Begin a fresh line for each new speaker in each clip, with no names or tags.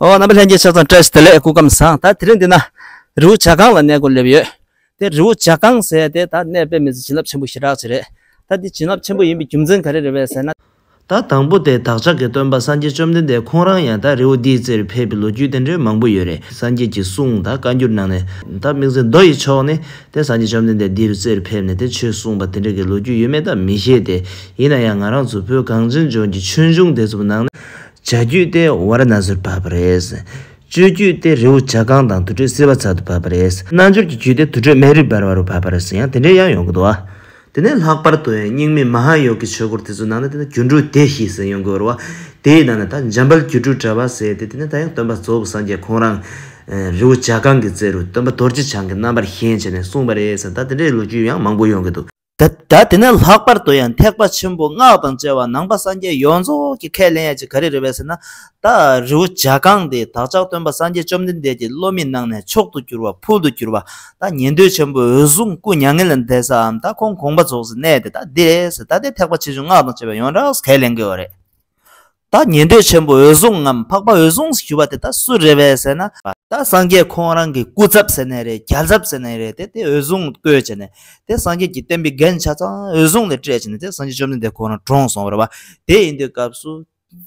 ཨོ་རྣམ་པ་ལྷན་སྐྱེས་ཆ་ཚང་བཀྲ་ཤིས་བདེ་ལེགས་སྐུ་ཁམས་བཟང་ད་དེ་རིང་འདི་ན་རི་བོ་བྱ་སྒང་ལ་གནས་སྒོ་སླེབས་ཡོད་དེ་རི་བོ་བྱ་སྒང་ཟེར་དེ་ད་གནས་སྤེལ་མི་ཚེ་བྱིན་རླབས་ཆེན་པོ་ཞེ་དྲག་ཅིག་རེད་ད་འདི་བྱིན་རླབས་ཆེན་པོ་ཡིན་པའི་རྒྱུ་མཚན་ག་རེ་རེད་བས་ཟེར་ན། ད་དང་པོ་
དེ་བདག་ཅག་གི་སྟོན་པ་སངས་རྒྱས་བཅོམ་ལྡན་འདས་ཁོང་རང་ཡང་ད་རི་བོ་འདིའི་རྩེར་ཕེབས་པའི་ལོ་རྒྱུས་དེ་འདྲའི་མང་པོ་ཡོད་རེད་སངས་རྒྱས་ཀྱི་གསུང་ད་བཀའ་འགྱུར་ནང་ནས་ད་དམིགས་བརྩེ་མདོ་ཡི་ཕྱོགས་ནས་དེ་སངས་རྒྱས་བཅོམ་ལྡན་འདས་འདིའི་རྩེར་ཕེབས་ནས་དེ་ཆོས་གསུངས་པ་དེ་འདྲ་གི་ལོ་རྒྱུས་ཡོད་མེད་ད་མི་ཤེས་ཏེ་ཡིན་ན་ཡང་ང་རང་ཚོ་བོད་གངས་ཅན་ལྗོངས་ཀྱི་ཆོས་འབྱུང་དེ་ཚོ་ནང་ནས་བྱ་རྒྱུད་དེ་བ་ར་ན་སིར་བབས་པ་རེད། སྤྱོད་རྒྱུད་དེ་རི་བོ་བྱ་རྐང་དང་དུར་ཁྲོད་སིལ་བ་ཚལ་དུ་བབས་པ་རེད། རྣལ་འབྱོར་གྱི་རྒྱུད་དེ་དུར་ཁྲོད་སྨན་རིའི་བར་བ་རུ་བབས་པ་རེད་ཟེར་ཡང་དེ་འདྲའི་དབྱངས་ཡོང་གི་འདུག་ཨ། དེ་ནས་ལྷག་པར་དུ་རྙིང་མའི་མ་ཧཱ་ཡོ་གའི་ཆོས་སྐོར་དེ་ཚོའི་ནང་ན་དེ་ནི་སྒྱུ་འཕྲུལ་སྡེ་ཞེས་ཟེར་ཡོང་གི་རུ་བ། དེའི་ནང་ན་ད་འཇམ་དཔལ་སྒྱུ་འཕྲུལ་དྲ་བ་ཟེར་ཏེ་དེ་ནི་ད་ཡང་སྟོན་པ་གཙོ་བོ་སངས་རྒྱས་ཁོང་རང། རི་བོ་བྱ་རྐང་གི་རྩེ་རུ་སྟོན་པ་རྡོ་རྗེ་འཆང་གི་རྣམ་པར་བཞེངས་བྱས་ནས་གསུངས་པ་རེད་ཟེར་ད་དེ་འདྲའི་ལོ་རྒྱུས་ཡང་མང་པོ་ཡོང་གི་འདུག། སྒྲ་དེ་ནི་ལྷག་པར་དུ་ཡང་ཐེག་པ་ཆེན་པོ་སྔགས་དང་བཅས་པ་ནང་པ་སངས་རྒྱས་ཡོངས་རྫོགས་ཀྱི་ཁས་ལེན་ཡ་གཅིག་ག་རེ་རེད་བས་ཟེར་ན། ད་རི་བོ་འཇའ་གང་དེ་བདག་ཅག་སྟོན་པ་སངས་རྒྱས་བཅོམ་ལྡན་འདས་ཀྱི་བློ་མིག་སྣང་ནས་མཆོག་ཏུ་གྱུར་པ་ཕུལ་དུ་གྱུར་པ་ད་ཉན་ཐོས་ཆེན་པོ་འོད་སྲུང་སྐུ་མྱ་ངན་ལས་འདས་སའམ་ད་ཁོང་དགོངས་པ་རྫོགས་སའི་གནས་དེ་ད་འདི་རེད་ཟེར་ད་ལྟའི་ཐེག་པ་ཆེ་ཆུང་སྔགས་དང་བཅས་པའི་ཡོངས་གྲགས་སུ་ཁས་ལེན་དགོས་བ་རེད། ད་ཉན་ཐོས་ཆེན་པོ་འོད་སྲུང་ངམ་འཕགས་པ་འོད་སྲུང་ཞུ་བ་དེ་དག་སུ་རེད་བས་ཟེར་ན། ད་སངས་རྒྱས་ཁོང་རང་གི་སྐུ་ཚབ་ཟེར་ནས་རེད་རྒྱལ་ཚབ་ཟེར་ནས་རེད་དེ་དེ་འོད་སྲུང་བསྐོས་བྱས་ནས་དེ་སངས་རྒྱས་ཀྱི་བསྟན་པའི་འགན་ཆ་ཚང་འོད་སྲུང་ལ་སྤྲད་བྱས་ནས་དེ་སངས་རྒྱས་བཅོམ་ལྡན་འདས་ཁོང་རང་གྲོངས་སོང་བ་རེད་བ། དེ་ཡིན་དུས་སྐབས་སུ་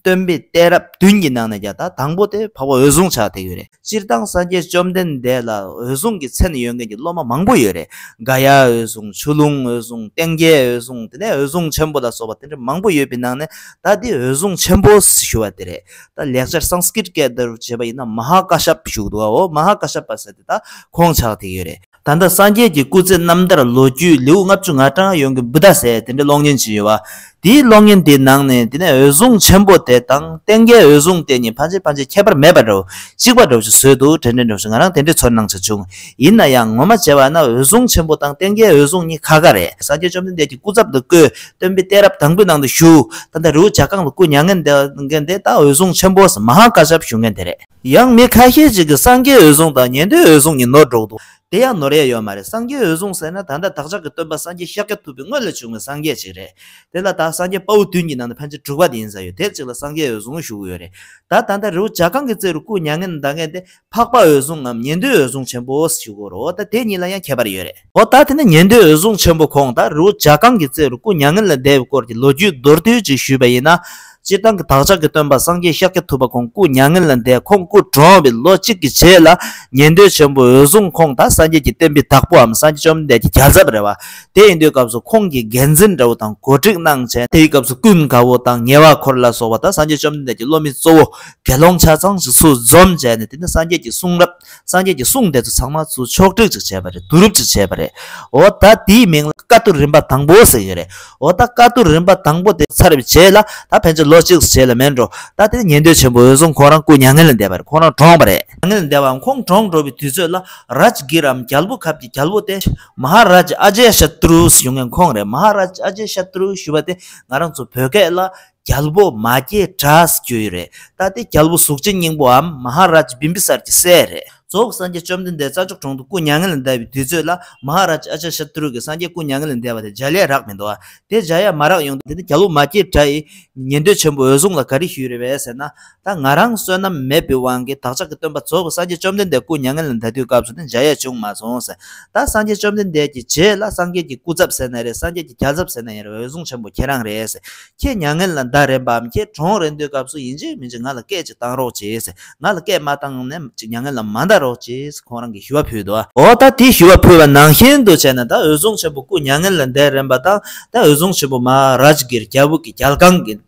སྟོན་པའི་གཏད་རབས་བདུན་གྱི་ནང་ནས་ཀྱང་ད་དང་པོ་དེ་འཕགས་པ་འོད་སྲུང་ཆགས་བསྡད་ཡོད་རེད། སྤྱིར་བཏང་སངས་རྒྱས་བཅོམ་ལྡན་འདས་ལ་འོད་སྲུང་གི་མཚན་ཡོད་མཁན་གྱི་སློབ་མ་མང་པོ་ཡོད་རེད། འགའ་ཡ་འོད་སྲུང་ཆུ་ཀླུང་འོད་སྲུང་སྟེང་རྒྱལ་འོད་སྲུང་དེ་ནས་འོད་སྲུང་ཆེན་པོ་ལ་སོགས་པ་དེ་འདྲ་མང་པོ་ཡོད་པའི་ནང་ནས་ད་འདི་འོད་སྲུང་ཆེན་པོ་ཞུ་བ་དེ་རེད། ད་ལེགས་སྦྱར Sanskrit སྐད་བརྡར་བྱས་པ་ཡིན་ན་མ་ཧཱ་ཀ་ཤབ་ཞུགས་འདུག་ཨོ་མ་ཧཱ་ཀ་ཤབ་པ་ཟེར་དེ་ད་ཁོང་ཕྱག་ཐིག་ཡོད་རེད། ད་ལྟ་སངས་རྒྱས་ཀྱི་སྐུ་ཚེ་རྣམ་ཐར་ལོ་རྒྱུས་ལེའུ་ལྔ་བཅུ་ང་གྲངས་ཡོངས་ཀྱི་འབུ་དག་ཟས་དེ་འདྲའི་གློག་བརྙན་བྱས་ཡོད་པ། དེའི་གློག་བརྙན་དེའི་ནང་ནས་དེ་ནས་འོད་སྲུང་ཆེན་པོ་དེ་དང་སྟེང་རྒྱལ་འོད་སྲུང་དེ་གཉིས་ཕ་མཆེད་ཕ་མཆེད་ཁྱད་པར་མེད་པ་འདྲ་བོ་གཅིག་པ་འདྲ་བོ་ཞིག་བཟོས་འདུག་དྲན་དྲན་འདྲ་བོ་ཞིག་ང་རང་དེ་འདྲའི་ཚོར་སྣང་བྱས་བྱུང། ཡིན་ན་ཡང་ངོ་མ་བྱས་པ་ན་འོད་སྲུང་ཆེན་པོ་དང་སྟེང་རྒྱལ་འོད་སྲུང་གཉིས་ཁ་ཁ་རེད། སངས་རྒྱས་བཅོམ་ལྡན་འདས་ཀྱི་སྐུ་ཚབ་ཏུ་བསྐོས། སྟོན་པའི་གཏད་རབས་དང་པོའི་ནང་དུ་བཞུགས། ད་ལྟ་རི་བོ་བྱ་རྐང་ལ་སྐུ་མྱ་ངན་འདས། ད་འོད་སྲུང་ཆེན་པོ་སམ་མ་ཧཱ་ཀཱ་ཤཱཔ་བཞུགས་མཁན་དེ་རེད། ཡང་མི་ཁ་ཤས་ཅིག་གིས་སངས་རྒྱས་འོད་སྲུང་དང་ཉན་ཐོས་འོད་སྲུང་གཉིས་ནོར་འགྲོ་གི་འདུག་དེ་ཡང་ནོར་ཡས་ཡོད་མ་རེད་སངས་རྒྱས་འོད་སྲུང་ཟེར་ན་ད་ལྟ་བདག་ཅག་གི་སྟོན་པ་སངས་རྒྱས་ཤཱཀྱ་ཐུབ་པའི་སྔོན་ལ་བྱུང་བའི་སངས་རྒྱས་ཅིག་རེད་དེ་ལ་ད་སངས་རྒྱས་དཔའ་བོ་བདུན་གྱི་ནང་ནས་ཕལ་ཆེར་དྲུག་པ་དེ་ཡིན་ས་ཡོད་དེབ་ཅིག་ལ་སངས་རྒྱས་འོད་སྲུང་བཞུགས་ཡོད་རེད་ད་ད་ལྟ་རི་བོ་བྱ་གང་གི་རྩེ་རུ་སྐུ་མྱ་ངན་འདའ་མཁན་དེ་འཕགས་པ་འོད་སྲུང་ངམ་ཉན་ཐོས་འོད་སྲུང་ཆེན་པོ་ཞིག་གོ་རོ་ད་དེ་གཉིས་ལ་ཡང་ཁྱད་པར་ཡོད་རེད། འོ་ད་དེ་ནས་ཉན་ཐོས་འོད་སྲུང་ཆེན་པོ་ཁོང་དང་རི་བོ་བྱ་རྐང་གི་རྩེ་རུ་སྐུ་མྱ་ངན་ལས་འདས་པའི་སྐོར་གྱི་ལོ་རྒྱུས་མདོར་བསྡུས་གཅིག་ཞུས་པ་ཡིན་ན། སྤྱིར་བཏང་གི་བདག་ཅག་གི་སྟོན་པ་སངས་རྒྱས་ཤཱཀྱ་ཐུབ་པ་ཁོང་སྐུ་མྱ་ངན་ལས་འདས་ཁོང་སྐུ་གྲོངས་པའི་ལོ་གཅིག་གི་རྗེས་ལ་ཉན་ཐོས་ཆེན་པོ་འོད་སྲུང་ཁོང་དང་སངས་རྒྱས་ཀྱི་བསྟན་པའི་བདག་པོའམ་སངས་རྒྱས་བཅོམ་ལྡན་འདས་ཀྱི་བྱ་ཚབ་རེད་བ། དེ་ཡིན་དུས་སྐབས་སུ་ཁོང་གིས་འགན་འཛིན་དགྲ་བོ་དང་གོ་སྒྲིག་གནང་མཁན། དེའི་སྐབས་སུ་ཀུན་དགའ་བོ་དང་ཉེ་བ་འཁོར་ལ་སོགས་པ་དང་སངས་རྒྱས་བཅོམ་ལྡན་འདས་ཀྱི་སློབ་མའི་གཙོ་བོ་དགེ་སློང་ཆ་ཚང་ཞིག་ཚུལ་འཛོམས་བྱས་ནས་དེ་ནས་སངས་རྒྱས་ཀྱི་གསུང་རབ། སངས་རྒྱས་ཀྱི་གསུང་དེ་ཚོ་ཚང་མ་ཚུར་ཕྱོགས་བསྒྲིགས་ཅིག་བྱས་པ་རེད་བསྡུ་རུབ་ཅིག་བྱས་པ་རེད། འོ་ད་དེའི་མིང་ལ་བཀའ་བསྡུར་རིམ་པ་དང་པོ་ཟེར་གྱི་རེད། འོ་ད་བཀའ་བསྡུར་རིམ་པ་དང་པོ་དེ་ཚར་རེབ་བྱས་ལ་ད་ཕན་ཚུན་ལོ་གཅིག་སུ་བྱས་ལ་མེད་འགྲོ། ད་དེ་ནི་ཉན་ཐོས་ཆེན་པོ་འོད་སྲུང་ཁོང་རང་སྐུ་མྱ་ངན་ལས་འདས་པ་རེད་ཁོང་རང་གྲོངས་པ་རེད། མྱ་ངན་ལས་འདས་པའམ་ཁོང་གྲོངས་འགྲོ་བའི་དུས་ཚོད་ལ་རཱཇ་གྷིར་འམ་རྒྱལ་པོ་ཁབ་ཀྱི་རྒྱལ་པོ་སྟེ། མ་ཧཱ་རཱཇ་ཨ་ཇཱེ་ཤཱ་ཏུ་རུ་ཞུ་མཁན་ཁོང་རེད་མ་ཧཱ་རཱཇ་ཨ་ཇཱེ་ཤཱ་ཏུ་རུ་ཞུ་བ་དེ་ང་རང་ཚོ་བོད་སྐད་ལ། རྒྱལ་པོ་མ་སྐྱེས་དགྲས་གྱུར་རེད། ད་ལྟའི་རྒྱལ་པོ་གཟུགས་ཅན་སྙིང་པོའམ་མ་ཧཱ་ར་ཇཱ་བིམ་བི་སར་གྱི་སྲས་རེད། རྫོགས་སངས་རྒྱས་བཅོམ་ལྡན་འདས་རྩ་མཆོག་གྲོང་དུ་སྐུ་མྱ་ངན་ལས་འདས་པའི་དུས་ཚོད་ལ་མ་ཧཱ་ར་ཇཱ་ཨ་ཅཱ་ཤཱ་ཏུ་རུ་ཀའི་སངས་རྒྱས་སྐུ་མྱ་ངན་ལས་འདས་པ་དེ་འཇའ་ལས་རག་མི་འདུག་ཨ། དེ་འཇའ་ཡང་མ་རག་ཡོང། དེ་ནས་རྒྱལ་པོ་མ་སྐྱེས་དགྲ་ཡིས་ཉན་ཐོས་ཆེན་པོ་འོད་སྲུང་ལ་ག་རེ་ཞུས་རེད་བས་ཟེར་ན། ད་ང་རང་བསོད་ནམས་མེད་པའི་དབང་གིས་བདག་ཅག་གི་སྟོན་པ་རྫོགས་པའི་སངས་རྒྱས་བཅོམ་ལྡན་འདས་སྐུ་མྱ་ངན་ལས་འདའ་དུས་སྐབས་སུ་ནི་འཇའ་ཡས་བྱུང་མ་སོང་ཟེར། ད་སངས་རྒྱས་བཅོམ་ལྡན་འདས་ཀྱི་རྗེས་ལ་སངས་རྒྱས་ཀྱི་སྐུ་ཛབ་ཟེར་ན་རེད་སངས་རྒྱས་ཀྱི་རྒྱ་ཛབ་ཟེར་ན་ཡང་རེད་འོད་སྲུང་ཆེན་པོ་ཁྱེད་རང་རེད་ཟེར། ཁྱེད་མྱ་ངན་ལས་འདའ་རན་པའམ་ཁྱེད་གྲོངས་རན་དུས་སྐབས་སུ་ཡིན་གཅིག་མིན་གཅིག་ང་ལ་སྐད་ཅིག་བཏང་རོགས་གྱིས་ཟེར། ང་ལ་སྐད་མ་བཏང་ནས་ཅིག་མྱ་ངན་ལས་མ་འདའ་རོགས་གྱིས་ཁོང་རང་གིས་ཞུ་བ་ཕུལ་ཏོ། འོ་ད་དེ་ཞུ་བ་ཕུལ་བ་ནང་བཞིན་དུ་བྱས་ན་ད་འོད་སྲུང་ཆེན་པོ་སྐུ་མྱ་ངན་ལས་འདས་རན་པ་དང་ད་འོད་སྲུང་ཆེན་པོ་མ་རཱཇ་གིར་རྒྱལ་བུ་གི་རྒྱལ་ཁང་གི།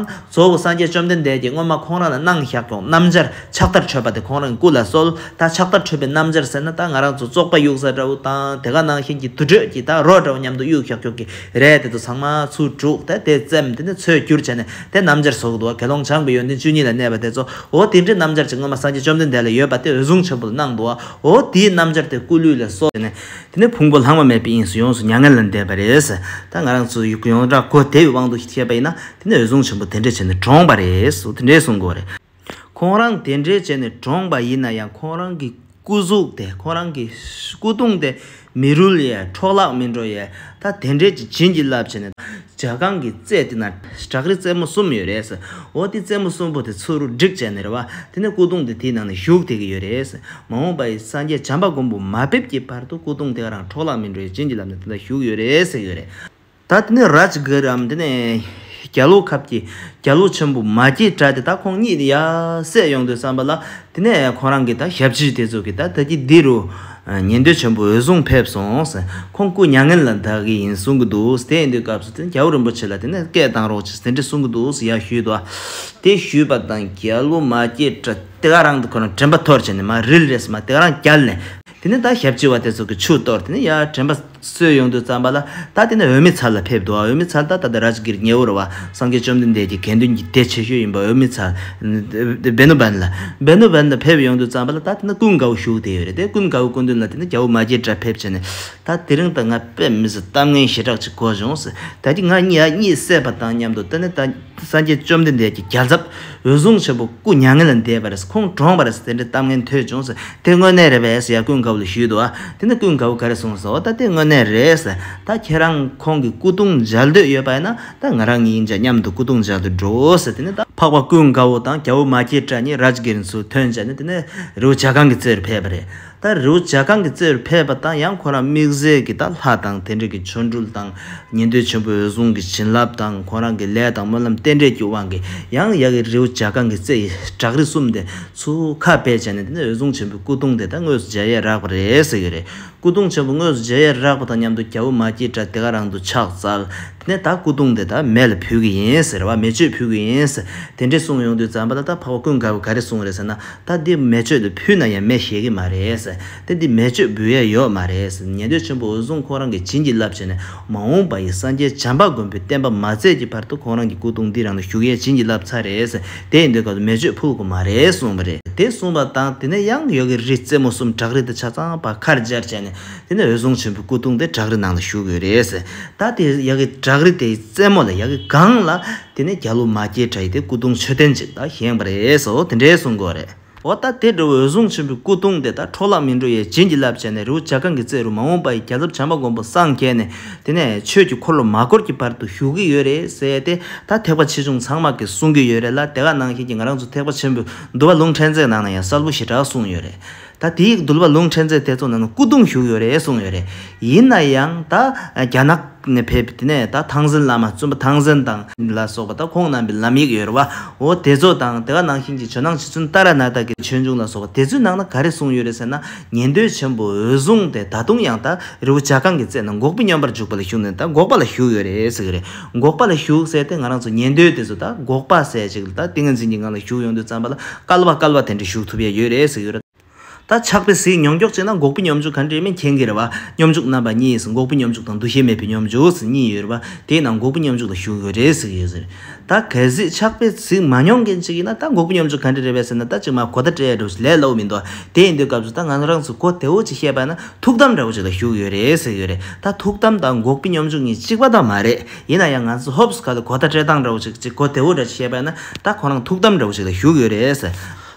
གཙོ་བོ་སངས་རྒྱས་བཅོམ་ལྡན་འདས་ཀྱིས་སྔོན་མ་ཁོང་རང་ལ་གནང་བཞག་ཀྱང་སྣམ་སྦྱར་ཕྱག་དར་ཁྲོས་པ་དེ་ཁོང་རང་གི་སྐུ་ལ་གསོལ། ད་ཕྱག་དར་ཁྲོས་པའི་སྣམ་སྦྱར་ཟེར་ན་ད་ང་རང་ཚོ་བཙོག་པ་གཡུག་ས་འདྲ་བོ་དང་དེ་ག་ནང་བཞིན་གྱི་དུར་ཁྲོད་ཀྱི་ད་རོ་འདྲ་བོ་མཉམ་དུ་གཡུག་བཞག་ཁྱོག་གི་རེད་དེ་ཚོ་ཚང་མ་ཚུར་དཀྲུགས་ཏེ་དེ་བཙེམ་དེ་ནས་འཚོལ་བསྒྱུར་བྱས་ནས་དེ་སྣམ་སྦྱར་བཟོ་གི་འདུག་བ་དགེ་སློང་བྱང་གི་ཡོན་ཏན་བཅུ་གཉིས་ལ་གནས་པ་དེ་ཚོ་འོ་དེ་འདྲའི་སྣམ་སྦྱར་ཅིག་སྔོན་མ་སངས་རྒྱས་བཅོམ་ལྡན་འདས་ལ་ཡོད་པ་དེ་འོད་སྲུང་ཆེན་པོ་ལ་གནང་འདུག་བ་འོ་དེའི་སྣམ་སྦྱར་དེ་སྐུ་ལུས་ལ་གསོལ། དེ་ནི་ཕུང་པོ་ལྷག་མ་མེད་པའི་དབྱིངས་སུ་ཡོངས་སུ་མྱ་ངན་ལས་འདས་པ་རེད། ད་ང་རང་ཚོས་ཡོངས་གྲགས་གོ་བདེ་བའི་དབང་དུ་བྱས་པ་ཡིན་ན་དེ་ནི་འོད་སྲུང་ཆེན་པོ་དེ་འདྲས་བྱས་ནས་གྲོངས་པ་རེད། དེ་འདྲས་གསུངས་དགོས་རེད། ཁོང་རང་དེ་འདྲས་བྱས་ནས་གྲོངས་པ་ཡིན་ན་ཡང་ཁོང་རང་གི་སྐུ་གཟུགས་དེ་ཁོང་རང་གི་སྐུ་གདུང་དེ་མི་རུལ་ཡས་འཕྲོག་བརླག་མི་འགྲོ་ཡས། ད་དེ་འདྲས་ཀྱི་བྱིན་གྱིས་བརླབས་བྱས་ནས། བྱ་རྐང་གི་རྩེ་དེ་ན་བྲག་རི་རྩེ་མོ་གསུམ་ཡོད་རེད། འོ་དེ་རྩེ་མོ་གསུམ་པོ་དེ་ཚུར་རུ་བསྒྲིགས་བྱས་ནས་རེད་བ། དེ་ནས་སྐུ་གདུང་དེ་དེའི་ནང་ནས་བཞུགས་དེ་གི་ཡོད་རེད། མ་འོངས་པ་ཡི་སངས་རྒྱས་བྱམས་པ་མགོན་པོ་མ་ཕེབས་ཀྱི་བར་དུ་སྐུ་གདུང་དེ་ག་རང་འཕྲོག་བརླག་མི་འགྲོ་ཡི་བྱིན་གྱི་རླབས་ནས་དེ་ལ་བཞུགས་ཡོད་རེད་ཟེར་ཡོད་རེད། ད་དེ་ནས་རཱཇ་གྷི་རམ་དེ་ནས་རྒྱ་ལོ་ཁབ་ཀྱི་རྒྱ་ལོ་ཆེན་པོ་མ་སྐྱེས་དགྲ་དེ་ད་ཁོང་གཉིས་དེ་ཡར་བསད་ཡོང་དུས་བསམ་པ་ལ་དེ་ནས་ཁོང་རང་གི་ད་ཞབས་ཕྱི་དེ་ཚོ་གི་ད་ད་ཀྱི་འདི་རུ་ཉན་འདོད་ཆེན་པོ་འོད་སྲུང་ཕེབས་སོང། ཁོང་སྐུ་མྱ་ངན་ལ་འདའ་གི་ཡིན་གསུང་གི་འདུག་དེ་ཡིན་དུས་སྐབས་སུ་དེ་ནས་རྒྱལ་པོ་རིན་པོ་ཆེ་ལ་དེ་ནས་སྐད་བཏང་རོགས་ཅིག་དེ་འདྲི་གསུང་གི་འདུག་ཡ་ཞུས་ཏོ། དེ་ཞུས་པ་དང་རྒྱལ་བོ་མ་སྐྱེས་དགྲ་དེ་ག་རང་དུ་ཁོ་རང་དྲན་པ་ཐོར་བྱས་ནས་མ་རིལ་རེས་མ་དེ་ག་རང་བསྐྱལ་ནས། དེ་ནས་ད་ཞབས་ཀྱི་བ་དེ་ཚོ་གི་ཆུ་གཏོར་དེ་ནས་ཡར་དྲན་པ་སོས་ཡོང་དུས་བརྩམས་པ་ལ་ད་དེ་ནས་འོད་མི་མཚར་ལ་ཕེབས་འདུག་འོད་མི་མཚར་ད་ད་ད་ར་ཇི་གིར་ཉེ་བོར་བ་སངས་རྒྱས་བཅོམ་ལྡན་འདས་ཀྱི་དགེ་འདུན་གྱི་སྡེ་ཆེ་ཤོས་ཡིན་པ་འོད་མི་མཚར། བེནུ་བན་ལ། བེནུ་བན་ལ་ཕེབས་ཡོང་དུས་བརྩམས་པ་ལ་ད་དེ་ནས་ཀུན་དགའ་བོ་བཞུགས་དེ་ཡོད་རེད་དེ་ཀུན་དགའ་བོའི་སྐུ་མདུན་ལ་དེ་ནས་རྒྱལ་པོ་མ་རྒྱལ་གྲབས་ཕེབས་བྱས་ནས་ད་དེ་རིང་ད་ང་དཔེ་མི་ཟད་གཏམ་ངན་ཞེ་དྲག་ཅིག་གོ་བྱུང་ཟེར་ད་ཀྱི་ང་གཉིས་ཡ་གཉིས་བསད་པ་དང་མཉམ་དུ་ད་ནས་ད་སངས་རྒྱས་བཅོམ་ལྡན་འདས་ཀྱི་རྒྱལ་ཚབ། འོད་སྲུང་ཆེན་པོ་སྐུ་མྱ་ངན་ལས་འདས་པ་རེད་ཁོང་གྲོངས་པ་རེད་དེ་འདྲའི་གཏམ་ངན་ཐོས་བྱུང་དེ་དངོས་གནས་རེད་བས་ཡ་ཀུན་དགའ་བོ་ལ་ཞུས་འདུག་ཨ་དེ་ནི་ཀུན་དགའ་བོ་ག་རེ་གསུངས་སོང་ད་དེ་དངོས་གནས་རེད་ད་ཁྱེད་རང་ཁོང་གི་སྐུ་གདུང་མཇལ་འདོད་ཡོད་པ་ཡིན་ན་ད་ང་རང་གཉིས་མཇལ་མཉམ་དུ་སྐུ་གདུང་མཇལ་དུ་འགྲོ་འོས་དེ་ནི་ད། འཕགས་པ་ཀུན་དགའ་བོ་དང་རྒྱལ་བོ་མ་སྐྱེས་དགྲ་གཉིས་རཱཇ་གིར་མཚོའི་དོན་བྱས་ནས་དེ་ནས་རི་བོ་བྱ་གངས་ཀྱི་རྩེ་རུ་ཕེབས་པ་རེད་ད་རེའུ་ལྗགས་ཁང་གི་རྩེར་ཕེབས་པ་དང་ཡང་ཁོ་རང་དམིགས་བསལ་གྱིས་ད་ལྷ་དང་དེ་འབྲེལ་གྱི་ཆོ་འཕྲུལ་དང་ཉན་ཐོས་ཆེན་པོའི་འོད་སྲུང་གི་བྱིན་རླབས་དང་ཁོ་རང་གི་ལས་དང་སྨོན་ལམ་རྟེན་འབྲེལ་གྱི་དབང་གིས་ཡང་ཡ་གི་རེའུ་ལྗགས་ཁང་གི་རྩེ་ཡི་བྲག་རི་གསུམ་དེ་ཚོ་ཁ་བེད་བྱས་ནས་དེ་ནས་འོད་སྲུང་ཆེན་པོའི་སྐུ་གདུང་དེ་ད་དངོས་སུ་མཇལ་ཡས་རག་པ་རེད་ཟེར་གྱི་རེད། སྐུ་གདུང་ཆེན་པོ་དངོས་སུ་མཇལ་ཡས་རག་པ་དང་མཉམ་དུ་རྒྱ་བོད་མ་སྐྱིད་དགྲ་དེ་ག་རང་དུ་ཕྱག་བཙལ། ནས་ད་སྐུ་གདུང་དེ་དག་མེ་ལ་ཕུལ་གྱི་ཡིན་ཟེར་བ་མེ་མཆོད་ཕུལ་གྱི་ཡིན་ཟེར་དེ་འདྲས་གསུངས་ཡོང་དུས་ཛམ་པ་ལ་ད་འཕགས་པ་ཀུན་དགའ་བོ་ག་རེ་གསུངས་རེད་ཟེར་ན་ད་འདི་མེ་མཆོད་དེ་ཕུལ་ན་ཡང་མེ་ཞེད་ཀྱི་མ་རེད་དེ་འདི་མེ་མཆོད་འབུལ་ཡས་ཡོད་མ་རེད་ཉན་ཐོས་ཆེན་པོ་འོད་སྲུང་ཁོང་རང་གི་བྱིན་གྱིས་བརླབས་བྱས་ནས་མ་འོངས་པ་ཡི་སངས་རྒྱས་བྱམས་པ་མགོན་པོའི་བསྟན་པ་མ་བཙལ་གྱི་བར་དུ་ཁོང་རང་གི་སྐུ་གདུང་འདི་རང་ལ་བཞུགས་ཡས་བྱིན་གྱིས་བརླབས་ཚར་རེད་དེ་ཡིན་དུས་སྐབས་སུ་མེ་མཆོད་ཕུལ་དགོས་མ་རེད་གསུངས་པ་རེད། དེ་གསུངས་པ་དང་དེ་ནས་གཡང་ཡོལ་གྱི་རི་རྩེ་མོ་གསུམ་བྲག་རི་དང་ཆ་ཚང་བར་ཁར་སྦྱར་བྱས་ནས་དེ་ནས་འོད་སྲུང་ཆེན་པོའི་སྐུ་གདུང་དེ་བྲག་རི་ནང་ལ་བཞུགས་ཡོད་རེད། ད་དེ་ཡ་གི་བྲག་རི་དེའི་རྩེ་མོ་ལ་ཡ་གི་སྒང་ལ་དེ་ནས་རྒྱ་ལུགས་མ་སྐྱེས་གྲ་ཡི་དེ་སྐུ་གདུང་མཆོད་རྟེན་ཅིག་ད་བཞེངས་པ་རེད་སོ་དེ་འདྲའི་གསུང་དགོས་རེད། འོ་ད་དེ་འདྲ་བའི་འོད་སྲུང་ཆེན་པོའི་སྐུ་གདུང་དེ་ད་འཕྲོ་བརླག་མི་འགྲོ་ཡའི་བྱིན་གྱིས་བརླབས་བྱས་ནས་རི་བོ་བྱ་སྒང་གི་རྩེ་རུ་མ་འོངས་པ་ཡི་རྒྱ་མཚོ་བྱམས་པ་མགོན་པོ་སངས་རྒྱས་ནས་དེ་ནས་ཆོས་ཀྱི་འཁོར་ལོ་མ་བསྐོར་གྱི་བར་དུ་བཞུགས་ཀྱི་ཡོད་རེད་ཟེར་ཏེ་ད་ཐེག་པ་ཆེ་ཆུང་ཚང་མ་གིས་གསུང་གི་ཡོད་རེད་ལ་དེ་ག་ནང་བཞིན་གྱི་ང་རང་ཚོ་ཐེག་པ་ཆེན་པོའི་འདུལ་བ་ལུང་ཕྲན་ཚེགས་ནང་ན་ཡང་གསར་བུ་ཞེ་དྲག་གསུངས་ཡོད་རེད། ད་དེའི་འདུལ་བ་ལུང་ཕྲན་ཚེགས་དེ་ཚོ་ནང་ན་སྐུ་གདུང་བཞུགས་ཡོད་རེད་གསུངས་ཡོད་རེད། ཡིན་ན་ཡང་ད་རྒྱ་ནག་ནས་ཕེབས་པའི་དེ་ནས་ད་ཐང་ཟན་བླ་མ་བཙུན་པ་ཐང་ཟན་དང། ལ་སོགས་པ་ད་ཁོང་རྣམས་པའི་ལམ་ཡིག་ཡོད་རེད་བ་འོ་དེ་ཚོ་དང་དེ་ག་ནང་བཞིན་གྱི་ཇོ་ནང་ཆུ་ཚུན་རྟ་ར་ནག་དག་གི་ཆོས་འབྱུང་ལ་སོགས་པ་དེ་ཚོའི་ནང་ན་ག་རེ་གསུངས་ཡོད་རེད་ཟེར་ན་ཉན་འདོད་ཆེན་པོ་འོད་བཟུང་སྟེ་ད་དུང་ཡང་ད་རི་བོ་བྱ་རྐང་གི་རྩེ་ན་འགོག་པའི་སྨྱོན་པར་འཇུག་པ་ལ་ཞུགས་ནས་ད་འགོག་པ་ལ་བཞུགས་ཡོད་རེད་ཟེར་གྱི་རེད། འགོག་པ་ལ་ཞུགས་ཟེར་ཏེ་ང་རང་ཚོ་ཉན་འདོད་དེ་ཚོ་ད་འགོག་པ་ཟེར་ཅིག་ལ་ད་ཏིང་ངེ་འཛིན་གྱི་ངང་ལ་ཞུགས་ཡོང་དུས་བརྩམས་པ་ལ་སྐལ་བ་སྐལ་བ་དེ་འདྲ་ཞུགས་ཐུབ་ཡ་ཡོད་རེད་ཟེར་གྱི་ཡོད། ད་ཆགས་པའི་གཟིགས་མྱོང་མགྱོགས་ཅན་ན་འགོག་པའི་སྙོམས་འཇུག་ག་འདྲའི་མིན་མཁྱེན་གྱི་རེད་བ། སྙོམས་འཇུག་རྣམ་པ་གཉིས་འགོག་པའི་སྙོམས་འཇུག་དང་འདུ་ཤེས་མེད་པའི་སྙོམས་འཇུག་གཉིས་ཡོད་རེད་བ། དེས་ན་འགོག་པའི་སྙོམས་འཇུག་ལ་ཞུགས་ཡོད་རེད་ཟེར་གྱི་ཡོད། ད་གལ་སྲིད་ཆགས་པའི་གཟིགས་མ་མྱོང་མཁན་ཅིག་ཡིན་ན་ད་འགོག་པའི་སྙོམས་འཇུག་ག་འདྲ་རེད་བས་ཟེར་ན་ད་ཅིག་མ་གོ་ད་བྲལ་འགྲོ་ཞིག་ལས་སླ་བོ་མི་འདུག་བ། དེ་ཡིན་དུས་སྐབས་སུ་ད་ང་རང་ཚོས་གོ་དེ་འོ་ཅིག་བཤད་པ་ན། ཐུགས་དམ་འདྲ་བོ་ཞིག་ལ་བཞུགས་ཡོད་རེད་ཟེར་ཡོད་རེད་ད་ཐུགས་དམ་དང་འགོག་པའི་སྙོམས་འཇུག་གཉིས་གཅིག་པ་དག་མ་རེད་ཡིན་ན་ཡང་ང་ཚོས་ཧོབ་སི་ག་ལ་གོ་བརྡ་སྤྲད་སྟངས་འདྲ་བོ་ཞིག་གཅིག་གོ་བདེ་བོ་འདྲ་ཞིག་བཤད་པས་ན་ད་ཁོ་རང་ཐུགས་དམ་འདྲ་བོ་ཞིག་ལ་བཞུགས་ཡོད་རེད་ཟེར།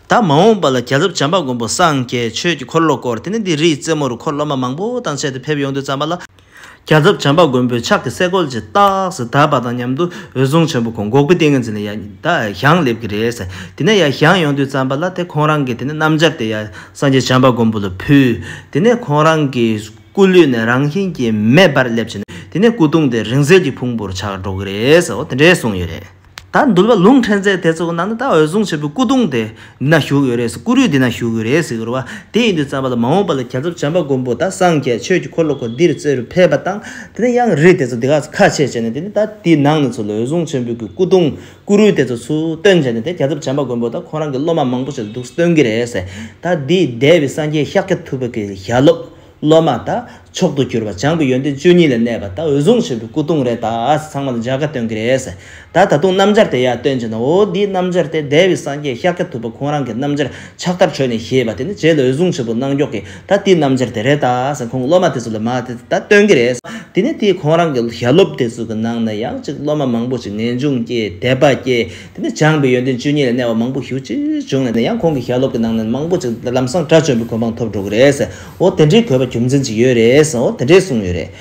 ད་མ་འོངས་པ་ལ་རྒྱ་གཟབ་བྱམས་པ་མགོན་པོ་སངས་རྒྱས་ཆོས་ཀྱི་འཁོར་ལོ་བསྐོར་དེ་ནས་འདི་རིའི་རྩེ་མོ་རུ་འཁོར་སློབ་མ་མང་པོ་དང་བཅས་ཏེ་ཕེབས་ཡོང་དུས་བརྩམས་པ་ལ། རྒྱ་ཚབ་བྱམས་པ་མགོན་པོས་ཕྱག་གི་སེ་གོལ་གྱི་རྟགས་སུ་དར་བ་དང་མཉམ་དུ་འོད་སྲུང་ཆེན་པོ་གོང་འགོག་པའི་ཏིང་ངེ་འཛིན་ལ་ཡང་ཡང་སླེབས་ཀྱི་རེད། དེ་ནས་ཡང་ཡང་ཡོང་དུས་བརྩམས་པ་ལ་དེ་ཁོང་རང་གིས་དེ་ནས་རྣམ་སྦྱར་དེ་ཡང་སངས་རྒྱས་བྱམས་པ་མགོན་པོ་ལ་ཕུལ། དེ་ནས་ཁོང་རང་གི་སྐུ་ལུས་ནས་རང་བཞིན་གྱིས་མེ་འབར་སླེབས་ཕྱིན། དེ་ནས་སྐུ་གདུང་དེ་རིང་བསྲེལ་གྱི་ཕུང་པོར་ཆགས་འགྲོ་གི་རེད། དེ་འདྲའི་གསུངས་ཡོད་རེད། ད་
འདུལ་བ་ལུང་ཕྲན་ཚེགས་དེ་ཚོ་གི་ནང་དུ་ད་འོད་སྲུང་ཆེན་པོའི་སྐུ་གདུང་དེ་འདི་ན་བཞུགས་ཡོད་རེད་སྐུ་རུས་འདི་ན་བཞུགས་ཡོད་རེད་ཟེར་གི་རེད་བ། དེ་ཡིན་དུས་བརྩམས་པ་ལ་མ་འོངས་པ་ལ་གྱ་ཚོམ་བྱམས་པ་མགོན་པོ་ད་སངས་རྒྱས་ཆོས་ཀྱི་འཁོར་ལོ་གོ་འདིར་རྩེ་རུ་ཕེབས་པ་དང་དེ་ནས་གཡང་རི་དེ་ཚོ་འདི་ག་ཚོ་ཁ་ཕྱེས་བྱས་ནས་དེ་ནས་ད་དེའི་ནང་ནས་ཚོ་ལ་འོད་སྲུང་ཆེན་པོའི་གི་སྐུ་གདུང་སྐུ་རུས་དེ་ཚོ་ཚུར་བཏོན་བྱས་ནས་དེ་གྱ་ཚོམ་བྱམས་པ་མགོན་པོ་ད་ཁོང་རང་གི་སློབ་མ་མང་པོ་ཞིག་ལ་འདུག་སྟོན་གི་རེད་ཟེར། ད་འདིའི་འདས་པའི་སངས་རྒྱས་ཤཱཀྱ་ཐུབ་པ་གི་ཞལ་སློབ། སློབ་མ་དག་མཆོག་ཏུ་གྱུར་པ་བྱང་གི་ཡོན་ཏན་བཅུ་གཉིས་ལ་གནས་པ་དག་འོད་བཟུང་ཆེན་པོའི་སྐུ་གདུང་རེ་དག་ཚང་མ་ལ་འཇག་ག་སྟོན་གི་རེད། ད་ད་དུང་སྣམ་སྦྱར་དེ་ཡང་སྟོན་བྱེད་ན་འོ་འདིའི་སྣམ་སྦྱར་དེ་བདེ་བའི་སངས་རྒྱས་ཤཱཀྱ་ཐུབ་པ་ཁོང་རང་གི་སྣམ་སྦྱར་ཕྱག་དར་ཁྲོད་ནས་བཞེས་པ་དེ་ནི་བྱས་ལ་འོད་བཟུང་ཆེན་པོ་གནང་མགྱོགས་ཀྱིས་ད་དེའི་སྣམ་སྦྱར་དེ་རེ་དག་ཁོང་སློབ་མ་དེ་ཚོ་ལ་མ་དེ་ད་སྟོན་གི་རེད། དེ་ནས་དེས་ཁོང་རང་གི་ཞལ་སློབ་དེ་ཚོ་གི་ནང་ན་ཡང་ཅིག་སློབ་མ་མང་པོ་ཞིག་ངེས་འབྱུང་སྐྱེས་དད་པ་སྐྱེས། དེ་ནས་སྦྱངས་པའི་ཡོན་ཏན་བཅུ་གཉིས་ལས་གནས་བབ་མང་པོ་ཞུ་ཅི་བྱུང་ལས་ནས་ཡང་ཁོང་གི་ཞལ་སློབ་ཀྱི་ནང་ནས་མང་པོ་ཅིག་ལམ་སང་དགྲ་བཅོམ་པའི་གོ་འཕང་ཐོབ་འགྲོ་གི་རེད། འོ་དེ་འདྲའི་གོ་བ་རྒྱུ་མཚན་ཅི་ཡོད་རེད། འོ་དེ་འདྲའི་གསུངས་ཡོད་རེད།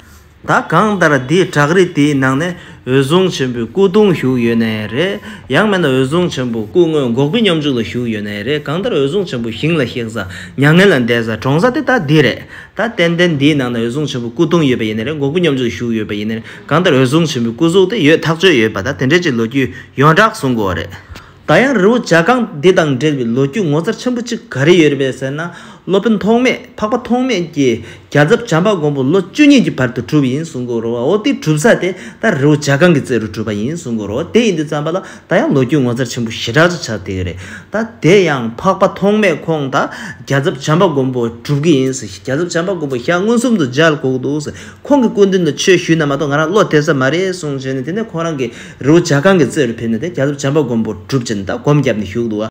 ད་གང་ལྟར་དེའི་བྲག་རི་དེའི་ནང་ནས་འོད་སྲུང་ཆེན་པོའི་སྐུ་གདུང་བཞུགས་ཡོད་ནའི་རེད། ཡང་མེད་ན་འོད་སྲུང་ཆེན་པོ་སྐུ་དངོས་འགོག་པའི་སྙོམས་འཇུག་ལ་བཞུགས་ཡོད་ནའི་རེད་གང་ལྟར་འོད་སྲུང་ཆེན་པོ་ཞིང་ལ་གཤེགས་ས་མྱ་ངན་ལ་འདས་ས་གྲོངས་ས་དེ་ད་འདི་རེད། ད་ཏན་ཏན་འདིའི་ནང་ནས་འོད་སྲུང་ཆེན་པོའི་སྐུ་གདུང་ཡོད་པ་ཡིན་ནའི་རེད་འགོག་པའི་སྙོམས་འཇུག་ལ་བཞུགས་ཡོད་པ་ཡིན་ནའི་རེད། གང་ལྟར་འོད་སྲུང་ཆེན་པོའི་སྐུ་གཟུགས་དེ་ཡོད་ཐག་ཆོད་ཡོད་པ་དང་དེ་འབྲེལ་གྱི་ལོ་རྒྱུས་ཡོངས་གྲགས་གསུང་དགོས་བ་རེད། ད་ཡང་རི་བོ་བྱ་རྐང་འདི་དང་འབྲེལ་བའི་ལོ་རྒྱུས་ངོ་མཚར་ཆེན་པོ་གཅིག་ག་རེ་ཡོད་རེད་པས་ཟེར་ན་སློབ་དཔོན་ཐོགས་མེད་འཕགས་པ་ཐོགས་མེད་ཀྱིས་རྒྱ་རྫབ་བྱམས་པ་མགོན་པོ་ལོ་བཅུ་གཉིས་ཀྱི་བར་དུ་གྲུབ་ཡིན་གསུང་དགོས་རོ་བའོ་དེའི་གྲུབ་ས་དེ་ད་རི་བོ་བྱ་རྐང་གི་རྩེ་རུ་གྲུབ་པ་ཡིན་གསུང་དགོས་རོ་དེ་ཡིན་དུས་བརྩམས་པ་ལ་ད་ཡང་ལོ་རྒྱུས་ངོ་མཚར་ཆེན་པོ་ཞེ་དྲག་ཅིག་ཆགས་དེ་རེད་ད་དེ་ཡང་འཕགས་པ་ཐོགས་མེད་ཁོང་ད་རྒྱ་རྫབ་བྱམས་པ་མགོན་པོ་གྲུབ་ཀྱི་ཡིན་ཟེར་རྒྱ་རྫབ་བྱམས་པ་མགོན་པོ་ཞག་མངོན་སུམ་དུ་སྦྱར་དགོས་ཀྱི་འདུག་ཟེར། ཁོང་གི་སྐུ་མདུན་དུ་ཆོས་ཞུས་ན་མ་གཏོགས་ང་རང་བློ་གཏད་ས་མ་རེད་གསུངས་བྱས་ནས་དེ་ནས་ཁོང་རང་གི་རི་བོ་བྱ་རྐང་གི་རྩེ་རུ་ཕེབས་ནས་དེ་རྒྱ་མཚོ་བྱམས་པ་མགོན་པོར་སྒྲུབ་བྱས་ནས་ད་སྒོམ་བརྒྱབ་ནས་བཞུགས་འདུག་བ།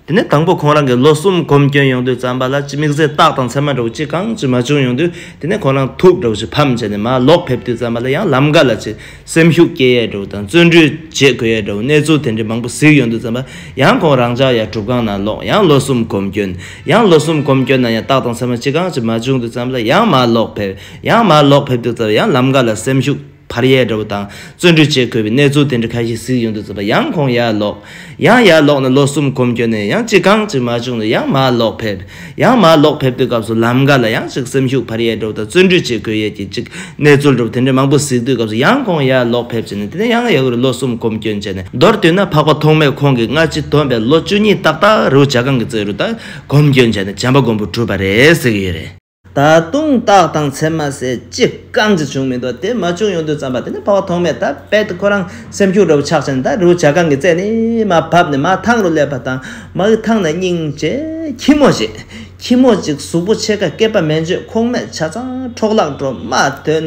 དེ་ནས་དང་པོ་ཁོང་རང་གི་ལོ་གསུམ་སྒོམ་སྐྱོན་ཡོང་དུས་བརྩམས་པ་ལ་ཅི་དམིགས་བཟས་རྟགས་དང་མཚན་མ་འདྲ་བོ་ཅི་གང་ཅི་མ་བྱུང་ཡོང་དུས་དེ་ནས་ཁོང་རང་ཐུགས་འདྲ་བོ་ཞིག་ཕམ་བྱས་ནས་མ་ལོག་ཕེབས་དུས་བརྩམས་པ་ལ་ཡང་ལམ་འགའ་ལ་ཅི་སེམས་ཤུགས་སྐྱེད་ཡས་འགྲོ་བོ་དང་བརྩོན་འགྲུས་རྗེས་འཁོད་ཡས་འགྲོ་བོ་གནས་ཚུལ་དེ་འདྲའི་མང་པོ་གཟིགས་ཡོང་དུས་བརྩམས་པ། ཡང་ཁོང་རང་ཅག་ཡང་གྲུབ་ཁང་ནང་ལོག་ཡང་ལོ་གསུམ་གོམ་བསྐྱོན། ཡང་ལོ་གསུམ་གོམ་བསྐྱོན་ན་ཡང་རྟགས་དང་མཚན་མ་ཅི་གང་ཅི་མ་བྱུང་དུས་བརྩམས་ལ་ཡང་མར་ལོག་ཕེབས། ཡང་མར་ལོག་ཕེབས་དུས་བརྩམས་ཡང་ལམ་ཀ་ལ་སེམས་ཤུགས་འཕར་ཡས་འགྲོ་བོ་དང་བརྩོན་འགྲུས་རྗེས་འཁོད་པའི་གནས་ཚུལ་དེ་འདྲ་ཁ་ཤས་གཟིགས་ཡོང་དུས་བརྩམས་པ་ཡང་ཁོང་ཡར་ལོག། ཡང་ཡར་ལོག་ནས་ལོ་གསུམ་གོམ་བསྐྱོད་ནས་ཡང་ཅི་གང་ཅི་མ་བྱུང་ནས་ཡང་མར་ལོག་ཕེབས། ཡང་མར་ལོག་ཕེབས་པའི་སྐབས་སུ་ལམ་འགའ་ལ་ཡང་ཅིག་སེམས་ཤུགས་འཕར་ཡས་འགྲོ་དང་བརྩོན་འགྲུས་བྱེད་དགོས་ཡས་ཀྱིས་ཅིག་གནས་ཚུལ་འགྲུབ་དེ་འདྲའི་མང་པོ་གཟིགས་དུས་སྐབས་སུ་ཡང་ཁོང་ཡར་ལོག་ཕེབས་བྱས་ནས་དེ་ནས་ཡང་ཡར་ལོ་གསུམ་གོམ་བསྐྱོད་བྱས་ནས་མདོར་བསྡུས་ན་འཕགས་པ་ཐོག་མའི་ཁོང་གིས་སྔ་ཕྱི་དོན་པའི་ལོ་བཅུ་གཉིས་ཏག་ཏག་རེའུ་ཆ་གང་གི་རྩེ་རུ་དང་གོམ་བསྐྱོད་བྱས་ནས་བྱམས་པ་མགོན་པོ་གྲུབ་པ་རེད་ཟེར་གྱི་ཡོད་རེད། ད་དུང་རྟགས་དང་མཚན་མ་བསལ་ཅི་གང་ཅི་བྱུང་མི་འདུག་དེ་མ་བྱུང་ཡོང་དུས་བརྩམས་པ་དེ་ནི་ཕ་བ་ཐོག་མེད་ད་རྦད་དེ་ཁོ་རང་སེམས་ཤུགས་འགྲོ་བའི་ཆགས་ཆེན་ད་རུ་བྱ་རྐང་གི་རྩེ་ནས་མ་བབས་ནས་མ་ཐང་རུ་སླེབས་པ་དང་མ་གི་ཐང་ན་སྙིང་རྗེ་ཁྱི་མོ་ཞིག་ཁྱི་མོ་གཅིག་གཟུགས་པོ་ཕྱེད་ཀ་སྐེད་པ་མན་ཆོད་ཁོག་མེད་ཆ་ཚང་འཕྲོག་བརླག་འགྲོ་མ་ཐོན།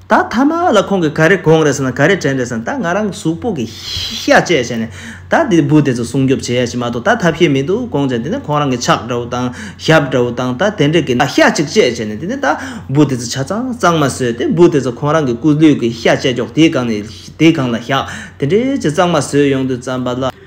ད་ཐ་མ་ལ་ཁོང་གིས་ག་རེ་དགོངས་རེད་ཟེར་ན་ག་རེ་དྲན་རེད་ཟེར་ན་ད་ང་རང་གི་གཟུགས་པོ་གི་ཤ་བཅད་བྱས་ནས་ད་དེ་བུ་དེ་ཚོ་སྲུང་སྐྱོབ་བྱེད་ཡ་ཞིག་མ་གཏོགས་ད་ཐབས་ཤེས་མི་འདུག་དགོངས་བྱས་དེ་ནས་ཁོང་རང་གི་ཕྱག་འདྲ་བོ་དང་ཞབས་འདྲ་བོ་དང་ད་དེ་འདྲ་གི་ཤ་གཅིག་བཅད་བྱས་ནས་དེ་ནས་ད་བུ་དེ་ཚོ་ཆ་ཚང་གཙང་མ་བཟོས་ཏེ་བུ་དེ་ཚོ་ཁོང་རང་གི་སྐུ་ལུས་ཀྱི་ཤ་བཅད་ཀྱོག་དེའི་སྒང་ནས་དེའི་སྒང་ལ་བཞག་དེ་འདྲའི་ཅི་གཙང་མ་བཟོས་ཡོང་དུས་རྩམ་པ་ལ།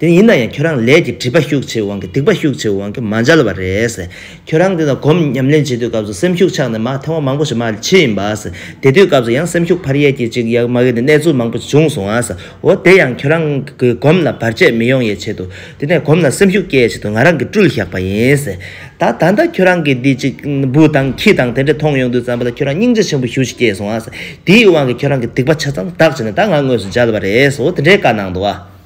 དེ་ཡིན་ན་ཡང་ཁྱོད་རང་ལས་ཀྱི་སྒྲིབ་པ་ཤུགས་ཆེ་བའི་དབང་གིས་སྡིག་པ་ཤུགས་ཆེ་བའི་དབང་གིས་མ་འཇལ་བ་རེད། ཁྱོད་རང་འདི་དང་གོམས་ཉམས་ལེན་བྱེད་དུས་སྐབས་སུ་སེམས་ཤུགས་ཆགས་ནས་མ་ཐེ་བ་མང་པོ་ཞིག་མ་མཆིས་ཡིན་པ། དེ་དུས་སྐབས་སུ་ཡང་སེམས་ཤུགས་འཕར་ཡས་ཀྱིས་ཅིག་ཡག་མ་ཡོད་ནས་གནས་ཚུལ་མང་པོ་ཞིག་བྱུང་སོང་བ། འོ་དེ་ཡང་ཁྱོད་རང་གི་གོམས་ལ་བར་ཆད་མི་ཡོང་ཡས་ཆེད་དུ། དེ་ནས་གོམས་ལ་སེམས་ཤུགས་སྐྱེ་ཡས་ཆེད་དུ་ང་རང་གིས་སྤྲུལ་བཞག་པ་ཡིན། ད་ད་ལྟ་ཁྱོད་རང་གིས་འདི་ཅིག་འབུ་དང་ཁྱི་དང་དེ་འདྲས་མཐོང་ཡོང་དུས་བསམ་པ་ལ་ཁྱོད་རང་སྙིང་རྗེ་ཆེན་པོ་ཞུ་ཞིག་སྐྱེས་སོང་བ། དེའི་དབང་གིས་ཁྱོད་རང་གི་སྡིག་པ་ཆ་ཚང་དག་བྱས་ནས་ད་ང་དངོས་སུ་འཇལ་བ་རེད། འོ་དེ་འདྲའི་བཀའ་གནང་འདུག་བ།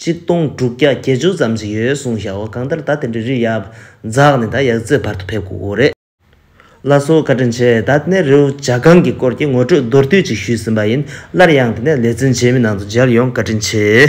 གཅིག་སྟོང་དྲུག་བརྒྱ་བརྒྱད་ཅུ་ཙམ་ཞིག་ཡོད་གསུངས་ཤག་ཨོ་གང་ལྟར་ད་དེ་འདྲའི་རིགས་ཡག་འཛག་ནས་ད་ཡག་རྩེད་བར་དུ་ཕེབས་དགོས་དགོས་རེད། བླ་སྲོག་བཀའ་དྲིན་ཆེ་ད་དེ་ནས་རེའུ་བྱ་སྒང་གི་སྐོར་གྱི་ངོ་སྤྲོད་མདོར་བསྡུས་ཅིག་ཞུས་ཟིན་པ་ཡིན་སླར་ཡང་དེ་ནས་ལེ་ཚན་རྗེས་མའི་ནང་དུ་མཇལ་ཡོང་བཀའ་དྲིན་ཆེ།